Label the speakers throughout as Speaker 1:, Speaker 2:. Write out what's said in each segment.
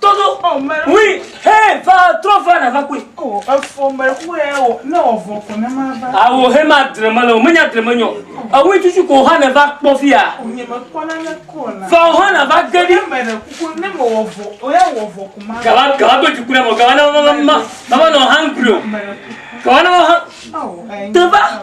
Speaker 1: Todo o mɛ. Oui,
Speaker 2: hé, va
Speaker 1: trɔ va na va kui. O efo mɛ
Speaker 2: ku ɛ o ne o vɔ ko ne ma va. Awo he ma dre me
Speaker 1: le o menya dre me nyɔ. Ewi tutu ko ha ne va kpɔ fia. O nye me kpɔ
Speaker 2: na ne ko na. Va o ha na va ge
Speaker 1: di. Mɛ ne kuku ne
Speaker 2: me o vɔ o ya o vɔ ko ma. Gaba gaba do juku ne mo
Speaker 1: gaba na ma ma ma ma ma no hungry o. Gaba na ma ha. Te
Speaker 2: va.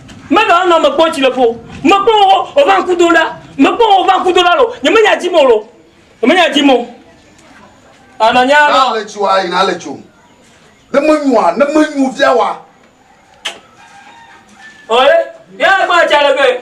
Speaker 1: Mele ɔnɔ me kpɔ tsi le ƒo. Me kpɔ wo o va ŋku do ɖa. Me kpɔ wo o va ŋku do ɖa lo. Nye me nya dzi mo lo. Nye me nya dzi mo. Ana nya lo. Na le tsi wa
Speaker 3: yi na le tsi o. Ne me nyu wa, ne me nyu via wa.
Speaker 1: Ɔye, ya gba tsi ale be.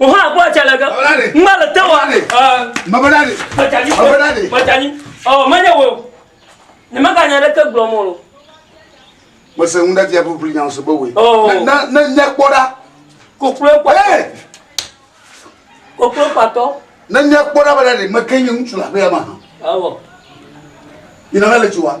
Speaker 1: Oha agbo ajalege. Ngba le te wa. Mabada de.
Speaker 3: Majanyi. Mabada de.
Speaker 1: Majanyi. Ɔ manya wo. Ne maka nya ɖe ke gblɔ mɔ lo.
Speaker 3: Mese ŋu ɖe via bubri nya se be we. Na na nya
Speaker 1: kpɔ ɖa.
Speaker 3: Koklo kpɔ. Koklo
Speaker 1: kpatɔ. Ne nya kpɔ ɖa
Speaker 3: bada de meke nye ŋutsu la be ama. Awɔ. Ina le tsi wa.